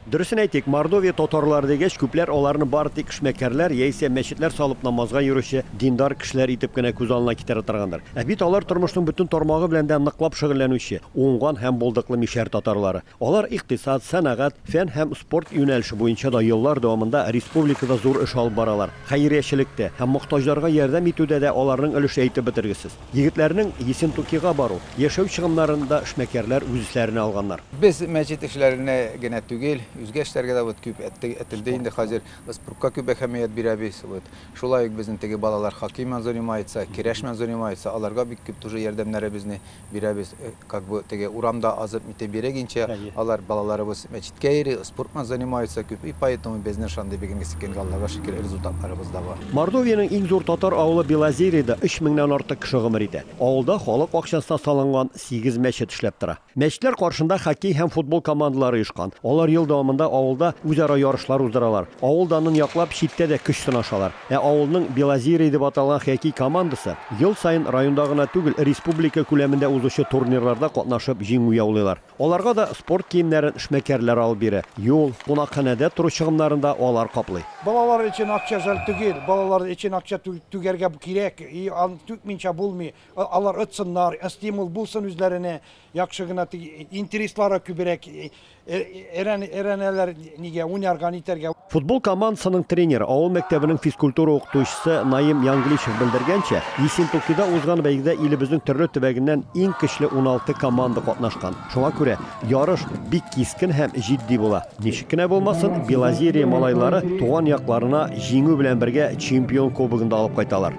Дөресен әйтик, Мордовия татарлары дигәч, күпләр аларны бары тик эшмәкәрләр яисә мәчетләр салып намазга йөрүче диндар кешеләр итеп кенә күз алына китерә торгандыр. Ә бит алар тормышның бөтен тармагы белән дә ныклап шөгыльләнүче, уңган һәм булдыклы мишәр татарлары. Алар икътисад, сәнәгать, фән һәм спорт юнәлеше буенча да еллар дәвамында республикада зур эш алып баралар. Хәйриячелектә һәм мохтаҗларга ярдәм итүдә дә аларның өлеше әйтеп бетергесез. Егетләрнең Ессентукига бару, яшәү чыгымнарын да эшмәкәрләр үз өсләренә алганнар. Без мәчет эшләренә генә түгел, үзгә эшләргә дә вот күп әтте, әтелде инде хәзер. Спортка күп әһәмият бирәбез. Вот шулай ук безнең теге балалар хоккей менән занимается, керәш менән занимается, аларга бик күп тоже ярдәмнәребезне бирәбез. Как бы теге урамда азып нитеп йөрегенчә, алар балаларыбыз мәчеткә йөри, спортман занимается, күп и поэтому безнең шандый бегенгесе килгән Аллага шөкер результатларыбыз да бар. Мордовиянең иң зур татар авылы Белозерида өч меңнән артык кеше гомер итә. Авылда халык акчасына салынган сигез мәчет эшләп тора. Мәчетләр каршында хоккей һәм футбол командалары оешкан. Алар ел дәвамында авылда үзара ярышлар уздыралар. Авыл данын яклап, читтә дә көч сынашалар. Ә авылның Белозерье дип аталган хоккей командасы ел саен районда гына түгел, республика күләмендә узучы турнирларда катнашып җиңү яулыйлар. Аларга да спорт киемнәрен эшмәкәрләр алып бирә, юл, кунакханәдә тору чыгымнарын да алар каплый. Балалар өчен акча жәл түгел, балалар өчен акча түгәргә кирәк, и аны түкминчә булмый, алар отсыннар, стимул булсын үзләренә, яхшы гына, теге, интереслары күбрәк Өйрәнәләр нигә, уйнарга, нитәргә. Футбол командасының тренеры, авыл мәктәбенең физкультура укытучысы Наим Янгличев белдергәнчә, Ессентукида узган бәйгедә илебезнең төрле төбәгеннән иң көчле уналты команда катнашкан. Шуңа күрә ярыш бик кискен һәм җитди була. Ничек кенә булмасын, Белозерье малайлары туган якларына җиңү белән бергә чемпион кубогын да алып кайталар.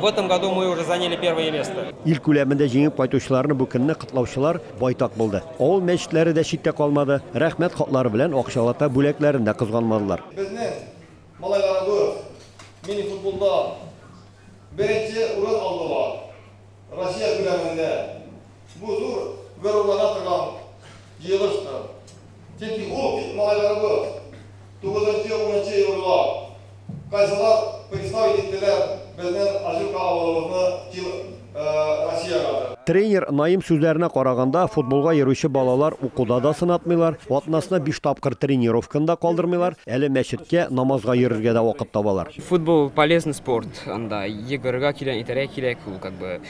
В этом году мы уже заняли первое место. Ил күләмендә җиңеп кайтучыларны бу көнне котлаучылар байтак булды. Авыл мәчетләре дә читтә калмады, рәхмәт хатлары белән акчалата бүләкләрен дә кызганмадылар. Безнең малайларыбыз мини-футболда беренче урын алдылар. Россия күләмендә. Бу зур горурлана торган җыелыштыр. Чөнки ул бит малайларыбыз, тугызынчы, унынчы елгылар. Кайсылар представить иттеләр безнең Ачурка авылыбызны Тил Россиягә дә. Тренер Наим сүзләренә караганда, футболга йөрүче балалар укуда да сынатмыйлар, атнасына биш тапкыр тренировканы да калдырмыйлар, әле мәчеткә, намазга йөрергә дә вакыт табалар. Футбол, полезный спорт, анда йөгерергә кирәк, итәргә кирәк, ул как бы.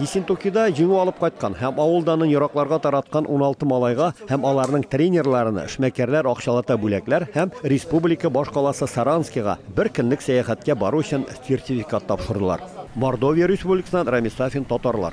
Ессентукида җиңү алып кайткан һәм авыл данын еракларга тараткан уналты малайга һәм аларның тренерларына эшмәкәрләр акчалата бүләкләр һәм республика башкаласы Саранскига бер көнлек сәяхәткә бару өчен сертификат тапшырдылар. Мордовия Республикасыннан Рамис Сафин, татарлар.